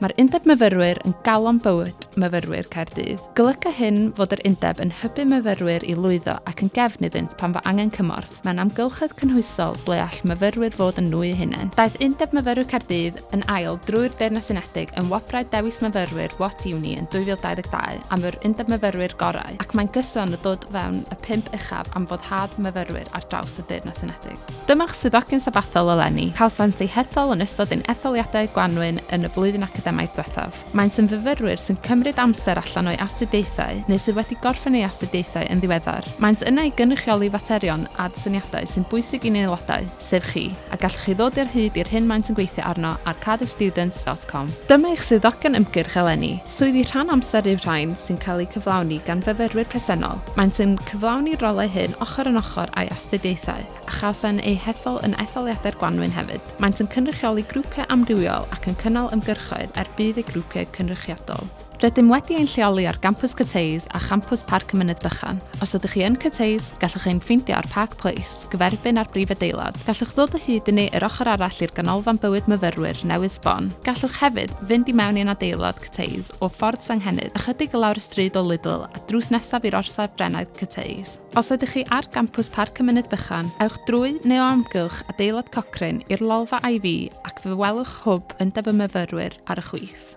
Mae'r Undeb Myfyrwyr yn galon bywyd myfyrwyr Caerdydd. Golyga hyn fod yr Undeb yn hybu myfyrwyr i lwyddo ac yn gefn iddynt pan fo angen cymorth mewn amgylchedd cynhwysol ble all myfyrwyr fod yn nhw eu hunain. Daeth Undeb Myfyrwyr Caerdydd yn ail drwy'r Deyrnas Unedig yn Wobrau Dewis Myfyrwyr What Uni yn 2022 am yr Undeb Myfyrwyr Gorau ac mae'n gyson o dod fewn y pump uchaf am foddhad myfyrwyr ar draws y Deyrnas Unedig. Dyma'ch swyddogyn sabathol eleni. Cawsant eu hethol yn ystod ein etholiadau gwanwyn yn y flwyddyn academaidd diwethaf. Maent yn fyfyrwyr sy'n cymryd amser allan o'u astudiaethau neu sydd wedi gorffen eu astudiaethau yn ddiweddar. Maent yna i gynrychioli faterion ad syniadau sy'n bwysig i'n aelodau, sef chi, a gallwch chi ddod i'r hyd i'r hyn maent yn gweithio arno ar cardiffstudents dot com. Dyma eich swyddogion ymgyrch eleni, Swyddi rhan amser yw'r rhain sy'n cael eu cyflawni gan fyfyrwyr presennol, maent yn cyflawni'r rolau hyn ochr yn ochr â'u astudiaethau, a chawsen eu hethol yn etholiadau'r gwanwyn hefyd. Maent yn cynrychioli grwpiau amrywiol ac yn cynnal ymgyrchoedd er budd eu grwpiau cynrychiadol. Rydym wedi ein lleoli ar Gampws Cyteus a Champws Parc y Mynydd Bychan. Os ydych chi yn Cyteus, gallwch ein ffeindio ar Park Place. gyferbyn â'r brif adeilad. Gallwch ddod o hyd i ni yr ochr arall i'r Ganolfan Bywyd Myfyrwyr newydd sbon. Gallwch hefyd fynd i mewn i'n adeilad Cyteys o Ffordd Senghennydd, ychydig i lawr y stryd o Lidl a drws nesaf i'r orsaf Brenau Cyteys. Os ydych chi ar gampws Parc y Mynydd Bychan, ewch drwy neu o amgylch adeilad Cochrane i'r lolfa IV ac fe welwch Hwb Undeb y Myfyrwyr ar y chwith.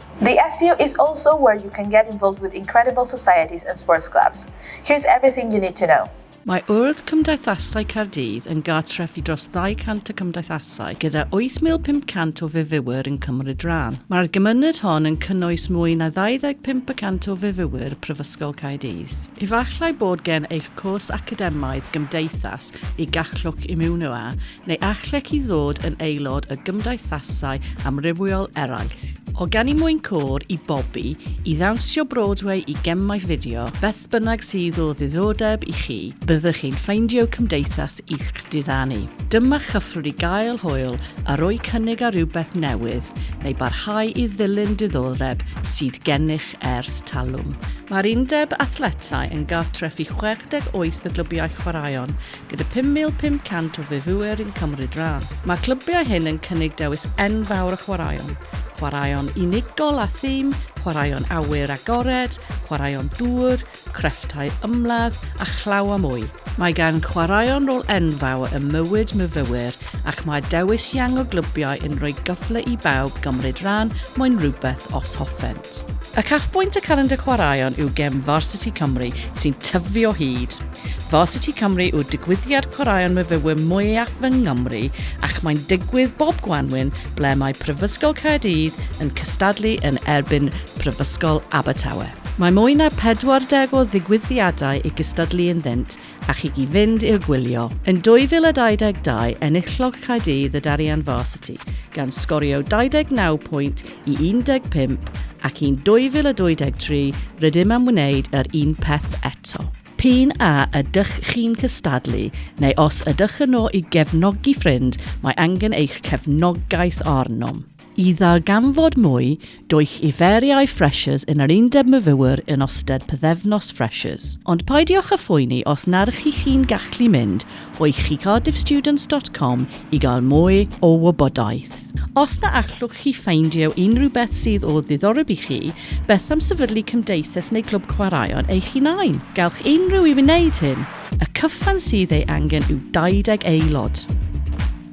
The SU is also where you can get involved with incredible societies and sports clubs. Here's everything you need to know. Mae Urdd Cymdeithasau Caerdydd yn gartref i dros 200 o gymdeithasau gyda 8,500 o fyfyrwyr yn cymryd rhan. Mae'r gymuned hon yn cynnwys mwy na 25 y cant o fyfyrwyr Prifysgol Caerdydd. Efallai bod gen eich cwrs academaidd gymdeithas y gallwch ymuno â, neu allech chi ddod yn aelod o gymdeithasau amrywiol eraill, o ganu mwyn côr i bobi, i ddawnsio Broadway i gemau fideo, beth bynnag sydd o ddiddordeb i chi, byddwch chi'n ffeindio cymdeithas i'ch diddanu. Dyma chyfle i gael hwyl a rhoi cynnig ar rywbeth newydd neu barhau i ddilyn diddordeb sydd gennych ers talwm. Mae'r Undeb Athletau yn gartref i 68 o glybiau chwaraeon gyda 5,500 o fyfwyr yn cymryd rhan. Mae'r clybiau hyn yn cynnig dewis enfawr o chwaraeon, chwaraeon unigol a thîm, chwaraeon awyr agored, chwaraeon dŵr, crefftau ymladd a chlaw a mwy. Mae gan chwaraeon rôl enfawr ym mywyd myfyrwyr ac mae dewis iang o glybiau yn rhoi cyfle i bawb gymryd rhan mewn rhywbeth os hoffen. Cymorth. Uchafbwynt y Calendr Chwaraeon yw gem Varsity Cymru sy'n tyfu o hyd. Varsity Cymru yw'r digwyddiad chwaraeon myfyrwyr mwyaf yng Nghymru ac mae'n digwydd bob gwanwyn ble mae Prifysgol Caerdydd yn cystadlu yn erbyn Prifysgol Abertawe. Mae mwy na 40 o ddigwyddiadau i gystadlu ynddynt a chi i fynd i'r gwylio. Yn 2022, enillodd Caerdydd y Darien Varsity, gan sgorio 29 pwynt i 15 ac yn 2023 rydym am wneud yr un peth eto. P'un a ydych chi'n cystadlu neu os ydych yno i gefnogi ffrind, mae angen eich cefnogaeth arnom. I ddarganfod mwy, dowch i Feriau Freshers yn yr Undeb Myfywyr yn ystod pythefnos Freshers. Ond peidiwch â phoeni os nad chi chi'n gallu mynd o'i chi cardiffstudents dot com i gael mwy o wybodaeth. Os na allwch chi ffeindio unrhyw beth sydd o ddiddoreb i chi, beth am sefydlu cymdeithas neu glwb chwaraeon eich hunain? Gallwch unrhyw i wneud hyn! Y cyfan sydd ei angen yw 20 aelod.